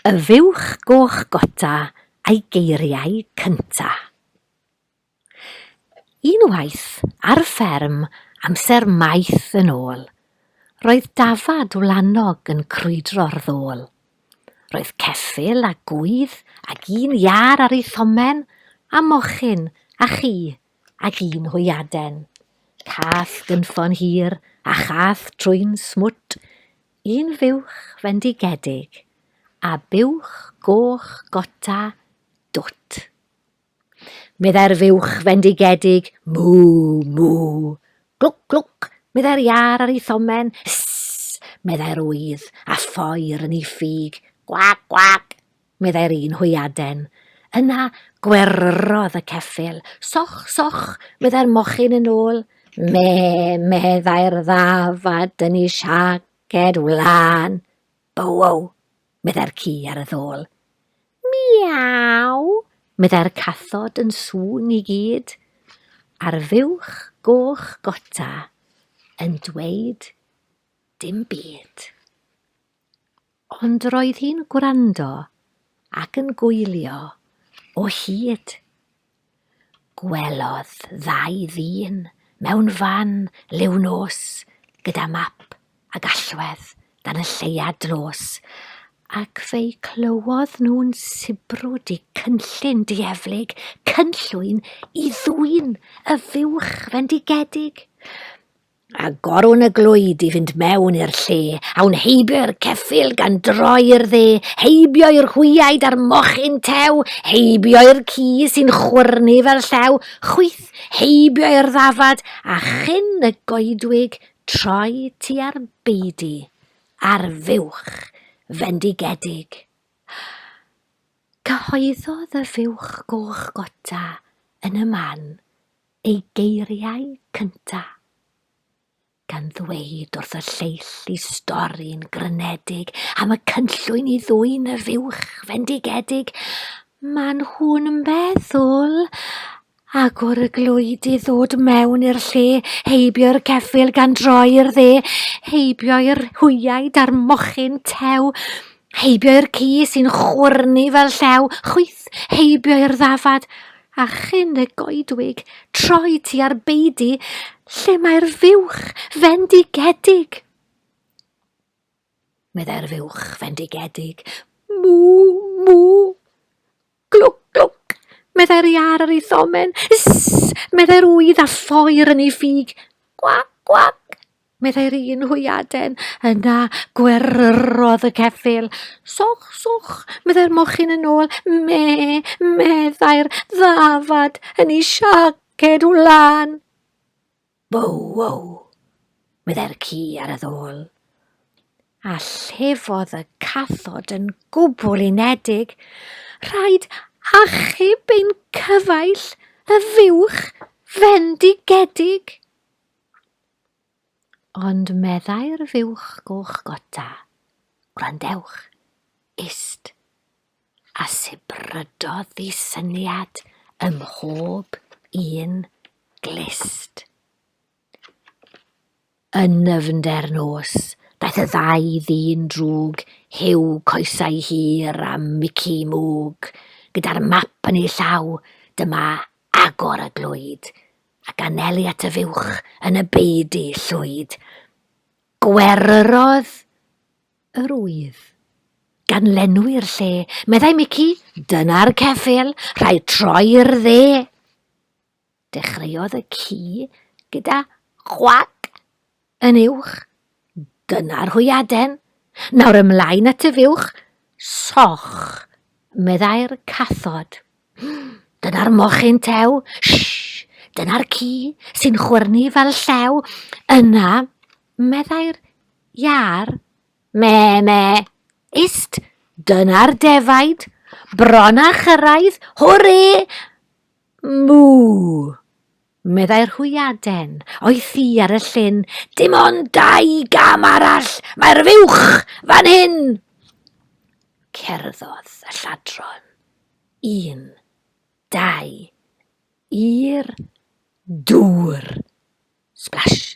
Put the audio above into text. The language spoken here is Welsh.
Y fuwch goch gota a'i geiriau cynta'. Unwaith, ar fferm, amser maith yn ôl, roedd dafad wlanog yn crwydro'r ddôl. Roedd ceffyl a gŵydd ag un iâr ar ei thomen, a mochyn, a chi, Ac un hwyaden. Cath gynffon hir a chath trwyn smwt, un fuwch fendigedig a buwch goch gota dwt. Meddai'r fuwch fendigedig, mw, mw. Glwc, glwc, meddai'r iâr ar ei thomen, ss, meddai'r ŵydd a ffoir yn ei ffug, gwac, gwac. meddai'r un hwyaden. Yna gweryrodd y ceffyl. Soch, soch, meddai'r mochyn yn ôl. Me, meddai'r ddafad, dyn ni siaced wlan. Bowow, meddai'r ci ar y ddôl. Miaw, meddai'r cathod yn sŵn i gyd. A'r fuwch goch gota yn dweud dim byd. Ond roedd hi'n gwrando ac yn gwylio o hyd. Gwelodd ddau ddyn mewn fan liw nos gyda map a gallwedd dan y lleuad dlos ac fe'i clywodd nhw'n sibrwd i cynllun dieflig, cynllwyn i ddwyn y fuwch fendigedig. a gorwn y glwyd i fynd mewn i'r lle, awn heibio i'r ceffyl gan droi i'r dde, heibio i'r hwyaid a'r mochyn tew, heibio i'r ci sy'n chwyrnu fel llew, chwyth, heibio i'r ddafad, a chyn y goedwig troi tua'r beudy, ar fuwch, fendigedig. Cyhoeddodd y fuwch goch gota yn y man Ei geiriau cynta', gan ddweud wrth y lleill i stori'n grynedig am y cynllwyn i ddwyn y fuwch fendigedig, maen nhw'n meddwl agor y glwyd i ddod mewn i'r lle, heibio'r ceffyl gan droi'r dde, heibio'r hwyaid a'r mochyn tew, Heibio i'r ci sy'n chwyrnu fel llew, chwyth, heibio i'r ddafad, a chyn y goedwig, troi ti ar beidi, lle mae'r fuwch fendigedig. Meddai'r fuwch fendigedig, mw, mw. Glwc, glwc! meddai'r iâr ar ei thomen. Ysss! meddai'r ŵydd a Lloer yn ei ffug. Gwac, gwac! meddai'r un hwyaden. Yna gweryrodd y ceffyl. Soch, soch! meddai'r mochyn yn ôl. Me, meddai'r ddafad yn ei siaced wlan. Wow, wow! meddai'r ci ar y ddôl. A llefodd y cathod yn gwbl unedig. Rhaid achub ein cyfaill y fuwch fendigedig. Ond meddai'r fuwch goch gota, gwrandewch, ist. a sibrydodd y syniad ym mhob un glust. Yn nyfnder nos, daeth y ddau ddyn drwg, Huw coesau hir a Mici mwg, gyda'r map yn ei llaw, dyma agor y glwyd, ac anelu at y fuwch yn y beudy llwyd. Gweryrodd Yr oedd. Gan lenwi'r lle, meddai Mici, dyna'r ceffyl, rhaid troi'r dde. Dechreuodd y ci gyda chwac yn uwch. Dyna'r hwyaden. Nawr ymlaen at y fuwch. Soch, meddai'r cathod. Dyna'r mochyn tew. Shh, dyna'r ci sy'n chwyrnu fel llew. Yna, Meddai'r iâr, Mê, mê! Ist, dyna'r defaid! Bron â chyrraedd! Hwrê! Mŵ! Meddai'r hwyaden, o'i thŷ ar y llyn, Dim ond dau gam arall! Mae'r fuwch fan hyn! Cerddodd y lladron. Un, dau, i'r dŵr. Splash!